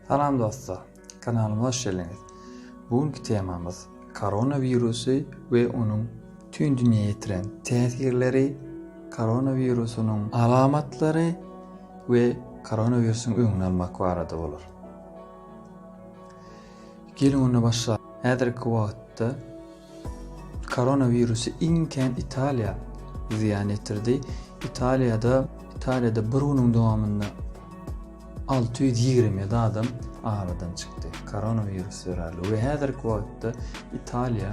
Salam dostlar, kanalyma hoş geldiňiz. Bugünkü temamyz koronawirusu we onuň tüm dünýä ýetiren täsirleri, koronawirusynyň alamatlary we koronawirusyň öňüni almak barada bolar. Geliň onda başlalyň. Häzirki wagtda koronawirusy iň kän Italiýa zyýan ýetirdi. Italiýada Italiýada bir günüň dowamynda alty ýüz ýigrimi ýedi adam aradan çykdy koronawirus zerarly we häzirki wagtda Italiýa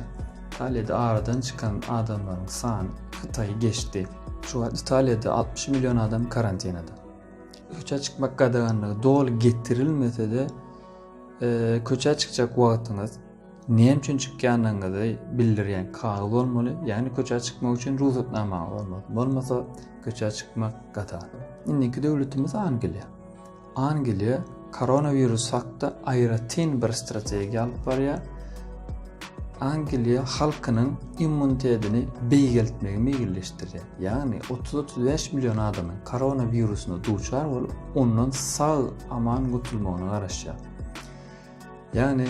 Italiýada aradan çykan adamlaryň sany Hytaýy geçdi. Şu wagt Italiýada altmyş million adam karantinada. Köçä çykmak gadaganlygy doly getirilmese-de, Köçä çykjak wagtyňyz näme üçin çykýandygyňyzy bildirýän kagyz bolmaly, ýagny köçä çykmak üçin rugsatnamaňyz bolmaly. Bolmasa köçä çykmak gata. Indiki döwletimiz Angliýa. Angliýa koronawirus hakda aýratyn bir strategiýa alyp barýar. Angliýa halkynyň immunitetini beýgeltmegi meýilleşdirýär. Ýagny 30-35 million adamyň koronawirusyna duçar bolup, ondan sag aman gutulmagyna garaşýar. Ýagny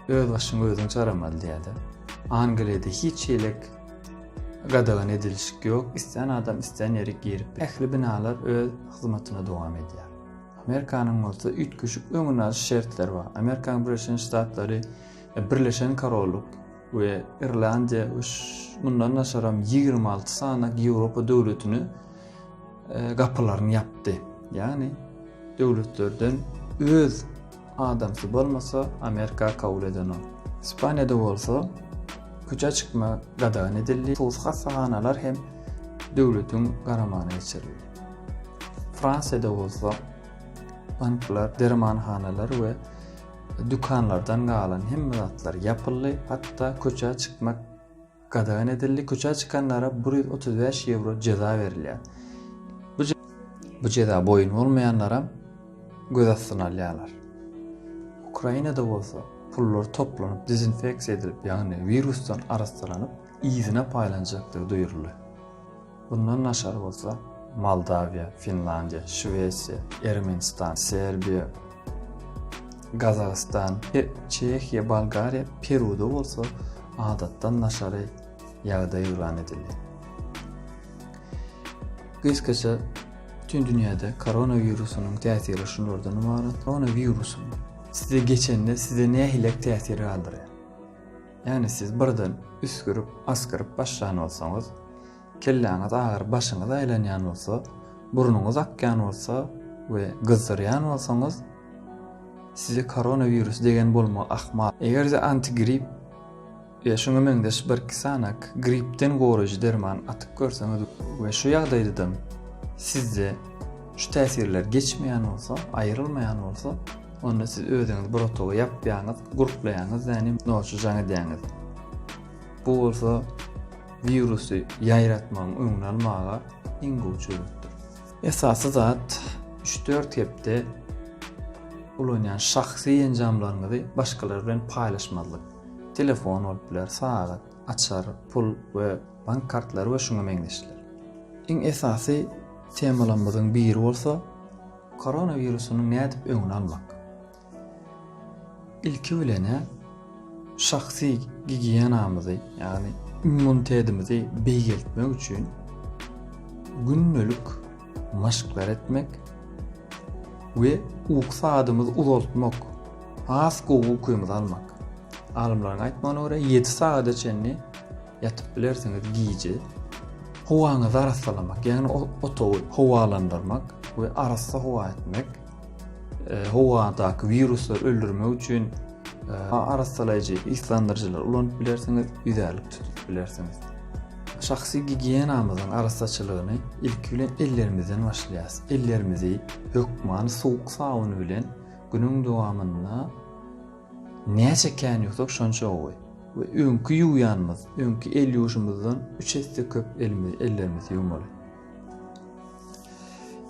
öz başyňy özüň çaramaly diýýärler. Angliýada hiç şeýlek gadagan edilişik ýok. Istän adam istän ýere girip, ähli binalar öz hyzmatyny dowam edýär. Amerikanyň bolsa üýtgeşik öňüni alyş şertleri bar. Amerikanyň Birleşen Ştatlary Birleşen Korollyk we Irlandiýa we mundan daşaram ýigrimi alty sany Ýewropa döwletine gapylaryny ýapdy. Ýagny döwletlerden öz adamsy bolmasa Amerika kabul edenok. Ispaniýada bolsa köçä çykma gadagan edildi. Sos hassahanalar hem döwletiň garamagyna geçirildi. Fransiýada bolsa banklar, dermanhanalar we Dükanlardan galan hemme zatlar ýapyldy, hatda köçä çykmak gadagan edildi. Köçä çykanlara bir ýüz otuz bäş ýewro jeza berilýär. Bu jeza boýun bolmaýanlaram göz astyna alýarlar. Ukrainada bolsa pullar toplanyp, dezinfeksiýa edilip, ýagny wirusdan arassalanyp, yzyna paýlanjakdygy duýruldy. Bundan daşary bolsa, Moldawiýa, Finlandiýa, Şwesiýa, Ermenistan, Serbiýa, Gazagystan, Çehiýa, Bolgariýa, Peruda bolsa adatdan daşary ýagdaý yglan edildi. Gysgaça bütün dünyada koronavirusunun tesiri şunlardan ibaret. Koronavirusun size geçende size ne hilek tesiri kaldırıyor? Ýagny siz birden üsgürip, asgyryp başlan bolsaňyz, kelläňiz agyryp başyňyz aýlanýan bolsa, burnuňyz akýan bolsa we gyzdyrýan bolsaňyz, size koronawirus degen bolmak ahmal. Eger-de antigrip ýa şuňa meňzeş birki sany gripden goraýjy derman atyp görseňiz we şu ýagdaýdadam sizde şu täsirler geçmeýän bolsa, aýrylmaýan bolsa, Onda siz özüňiz bir otaga ýapýaňyz, gurplaýaňyz da nim noçy jaň edýäňiz. Bu bolsa wirusy ýaýratmagyň öňüni almaga iň gowy çözgütdir. Esasy zat üç-dört hepde ulanýan şahsy enjamlaryňyzy başgalar bilen paýlaşmazlyk. Telefon bolup biler, sagat, açar, pul we bank kartlary we şuňa meňzeşler. Iň esasy temalarymyzyň biri bolsa Koronawirusynyň nädip öňüni almak? Ilki bilenä şahsy gigiýenamyzy, ýagny immunitetimizi beýgeltmek üçin gündelik maşklar etmek we uky sadymyzy uzaltmak, has gowy ukymy almak. Alymlaryň aýtmagyna görä, 7 sagada çenli Ýatyp bilersiňiz gije. Howaňyzy arassalamak, ýagny otagy howalandyrmak we arassa howa etmek, howadaky wiruslary öldürmek üçin arassalaýjy yslandyryjylary ulanyp bilersiňiz, ýüzärlik tutup bilersiňiz. Şahsy gigiýenamyzyň arassaçylygyny ilki bilen ellerimizden başlaýarys. Ellerimizi hökman suwuk sabun bilen günüň dowamynda Näçe kän ýuwsak şonça gowy. We öňki ýuwýanymyz, öňki el ýuwuşymyzdan üç esse köp elimizi, ellerimizi ýuwmaly.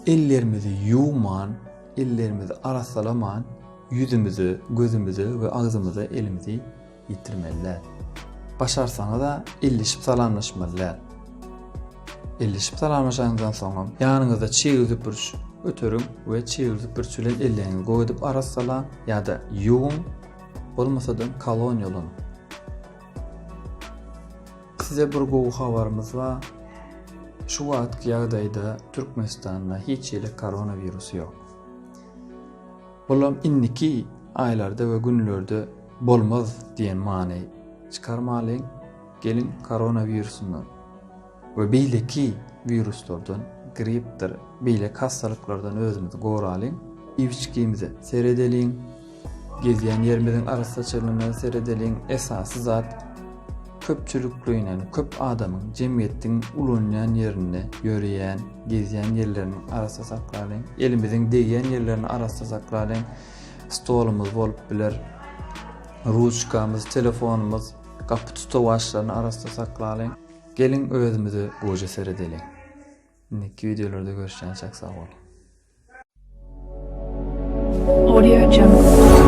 Ellerimizi ýuwman, ellerimizi arassalaman ýüzümize, gözümize we agzymyza elimizi ýetirmeli däl. Başarsaňyz-a elleşip salamlaşmaly däl. Ellişip salamlaşanyňyzdan soňam, ýanyňyzda çig süpürç göteriň we çig süpürç bilen elleňizi gowy edip arassalaň ýa-da ýuwuň, bolmasa-da kolon ýoluň. Size bir gowy habarymyz bar. Şu wagtky ýagdaýda Türkmenistanda hiç hili koronawirus ýok. Bulam indiki aýlarda we günlerde bolmaz diýen many çykarmalyň. Geliň koronawirusundan we beýleki wiruslardan, gripdir, beýleki hassalyklardan özümizi goralyň. Iýip-içgimize seredeliň. Gezýän ýerimiziň arassaçylygyna seredeliň. Esasy zat köpçülikleýin, ýagny köp adamyň, jemgyýetiň ulanýan ýerinde ýöreýän, gezýän ýerlerini arassa saklalyň. Elimiziň degýän ýerlerini arassa saklalyň. Stolumyz bolup biler, ruçkamyz, telefonumyz, Gapy tutawaçlaryny arassa saklalyň. Geliň özümize goja seredeliň. Indiki wideolarda görüşýänçäk sag boluň. Audio Jungle.